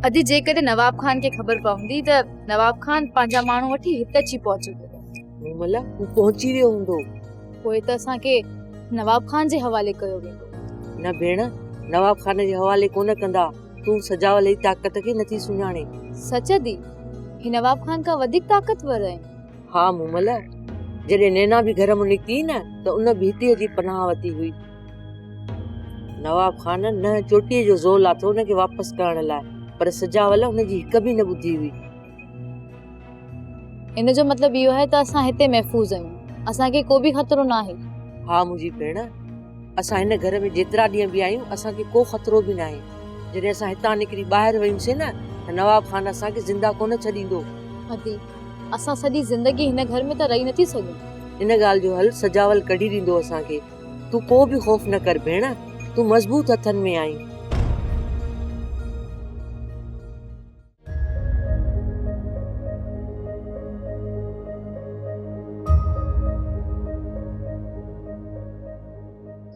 اڄ جيڪڏهن نواب خان کي خبر پوندي ته نواب خان پنهنجا ماڻهو وٺي هت اچي پهچي ويندو ملا هو پهچي ويو هوندو پوء ته اسان کي نواب خان جي حوالي ڪيو ويندو نه ڀيڻ نواب خان جي حوالي ڪونه ڪندا تون سجاول جي طاقت کي نٿي سڃاڻين. سچ دي، هي نواب خان کان وڌيڪ طاقتور آهن. ها مومل، جڏهن نينا به گهر مان نڪتي نه ته ان به هتيء جي پناهه وتي هئي. نواب خان ننهن چوٽيء جو زور لاٿو ان کي واپس ڪرڻ لاء، پر سجاول ان جي هڪ به نه ٻڌي هئي. ان جو مطلب اهو آهي ته اسان هتي محفوظ آهيون اسان کي ڪو به خطرو نه آهي ها منهنجي ڀيڻ اسان هن گهر ۾ جيترا ڏينهن به آهيون اسان کي ڪو خطرو به ناهي جڏهن اسان هتان نڪري ٻاهر ويوسين نه ته نواب خان اسان کي زنده ڪونه ڇڏيندو ادي اسان سڄي زندگي هن گهر ۾ ته رهي نٿي سگهون ان ڳالهه جو حل سجاول ڪڍي ڏيندو اسان کي تون ڪو به خوف نه ڪر ڀيڻ تون مضبوط هٿن ۾ آهين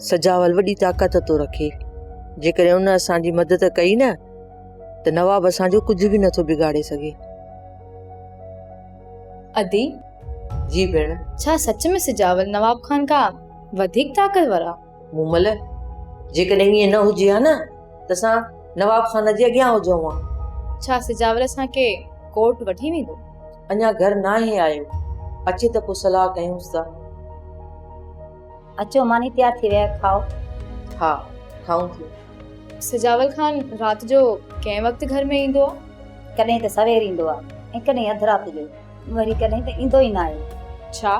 سجاول وڏي طاقت ٿو رکي جيڪڏهن ان اسان جي مدد ڪئي نه ته نواب اسان جو ڪجهه به نٿو بگاڙي سگهي ادي جي ڀيڻ ڇا سچ ۾ سجاول نواب خان کان وڌيڪ طاقتور آ مومل، جيڪڏهن ائين نه هجي ها نه ته اسان نواب خان جي اڳيان هجون ها. ڇا سجاول اسان کي ڪورٽ وٺي ويندو؟ اڃا گهر ناهي آيو، اچي ته پوء صلاح ڪيونس ٿا. اچو ماني تيار ٿي وئي آهي، کائو. ها، کائون ٿيون. سجاول خان رات جو ڪنهن وقت گهر ۾ ايندو آهي؟ ڪڏهن ته سوير ايندو آهي ۽ ڪڏهن اڌ رات جو. وري ڪڏهن ته ايندو ئي ناهي. ڇا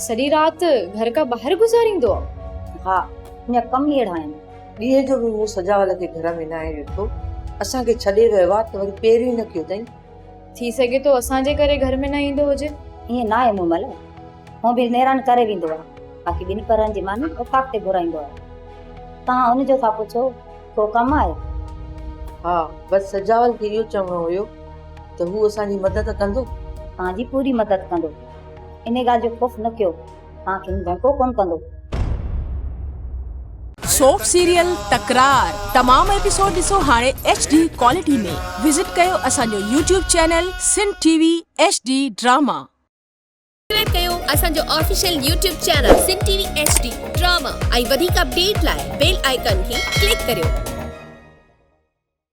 سڄي رات گهر کان ٻاهر گذاريندو آ؟ ها ميان ڪم ئي اهڙا آهن. ڏينهن جو به مون سجاول کي گهر ۾ ناهي ڏٺو. اسان کي ڇڏي ويو آ ته وري پير ئي نه ڪيو تئين. ٿي سگهي ٿو اسان جي ڪري گهر ۾ نه ايندو هجي. ائين ناهي مومل هونء به نيران ڪري ويندو آ باقي ٻن پهرن جي ماني اوطاق تي گهرائيندو آ. توهان ان جو ٿا پڇو. ڪو ڪم آهي؟ ها، بس سجاول کي اهو چوڻو هيو ته هو اسان جي مدد ڪندو. توهان جي پوري مدد ڪندو. انهي ڳالهه جو خوف نه ڪيو. توهان کي هو ڌوڪو ڪونه ڪندو. سوپ سيريل تڪرار تمام ايپيسوڊ ڏسو هاڻي ايڇ ڊي ڪوالٽي ۾ وزٽ ڪيو اسان جو YouTube channel Sindh T V H D drama. Subscribe ڪيو اسان جو official YouTube channel Sindh T V H D drama ۽ وڌيڪ اپڊيٽ لاء بيل آئيڪان کي ڪلڪ ڪريو.